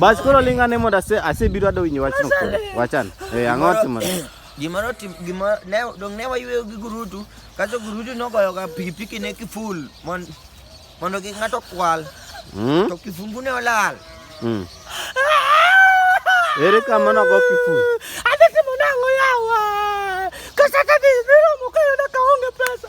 Bas koro ling ane mondo ase asebiro ado winyo wachno koro. Wachan. Eh ang'o timore? Gima notim gima ne dong ne wayueyo gi gurutu kaso gurutu nogoyo ga pikipiki ne kiful mon mondo kik ng'ato kwal Hmm? to kifungu ne olal. Hmm. Ere kama nogo kiful? Adhi timo nang'o yawa? Kasata dhi niromo kayudo ka onge pesa.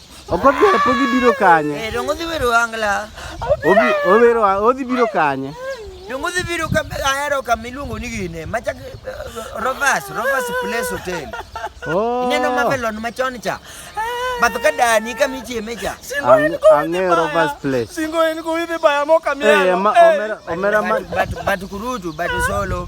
Okobi pogi biro kanye? Eh, dongo dhi wero angla. Obi owero odhi biro kanye? Dongo dhi biro ka ahero ka miluongo ni gine. Machak eh, Rovers, Rovers Place Hotel. Oh. Ineno Mamelon machon cha. Bath ka dani ka michieme cha. Ang'e Rovers Place. Singo en ko idhi baya mo kamera. Eh, omera omera ma. But but kurutu but solo.